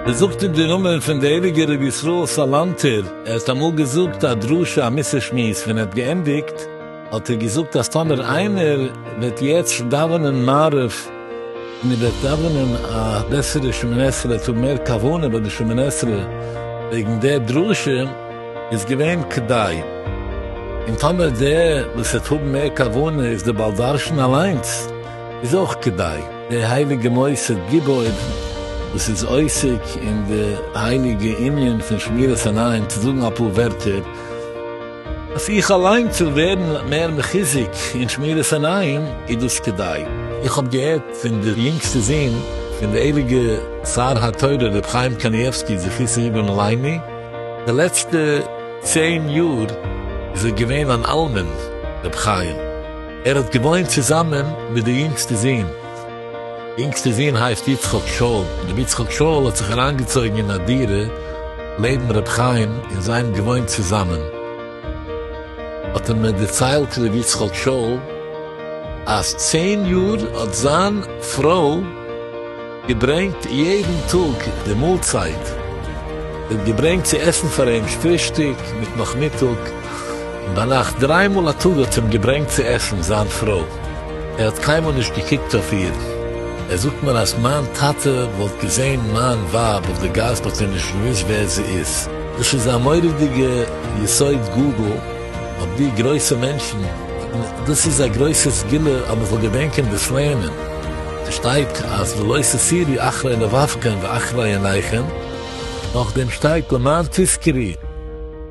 ער זאגט אין די נאמען פון די הייליגע רבי ישראל סאלאנטער, ער האט אמאל געזאגט א דרשה א מס' שמועס ווען ער האט געענדיגט, האט ער געזאגט אז טאמער איינער וועט יעצט דאווענען מעריב און ער וועט דאווענען א בעסערע שמיני עשרה וועט האבן מער כוונה ביי די שמיני עשרה וועגן דער דרשה איז געווען כדאי, און טאמער דער וואס וועט האבן מער כוונה איז דער בעל דרשן אליינס איז אויך כדאי. דער הייליגער מוסד גיבור וואס איז עוסק אין די הייליגע ענין פון שמירת עיניים צו זאגן אפאר ווערטער. אז איך אליין צו ווערן מער מחיזוק אין שמירת עיניים איז דאס כדאי. איך האב געהערט פון די יונגסטע זון פון די הייליגע שר התורה ר' חיים קנייבסקי זכותו יגן עלינו, די לעצטע צען יאר איז ער געווען אן אלמן, ר' חיים, ער האט געוואוינט צוזאמען מיט די יונגסטע זון, יונגסטע זון הייסט יצחק שאול, רבי יצחק שאול האט זיך אריינגעצויגן אין א דירה לעבן רבי חיים און זיי האבן געוואוינט צוזאמען, האט ער מיר דערציילט רבי יצחק שאול אז צען יאר האט זיין פרוי געברענגט יעדן טאג די מאלצייט, זי האט געברענגט צו עסן פאר אים פרישטאג מיט נאכמיטאג, ביינאכט דריי מאל א טאג האט אים געברענגט צו עסן זיין פרוי, ער האט קיינמאל נישט געקוקט אויף איר, ער זאגט מיר אז מיין טאטע וואלט געזען מיין ווייב אויף די גאס וואלט ער נישט געוואוסט ווער זי איז. דאס איז א מורא'דיגע יסוד גדול אויף די גרויסע מענטשן, און דאס איז א גרויסע סגולה אז מען זאל געדענקען דאס לערנען, עס שטייט אז ולא תסירי אחרי לבבכם ואחרי עיניכם, נאכדעם שטייט למען תזכרי.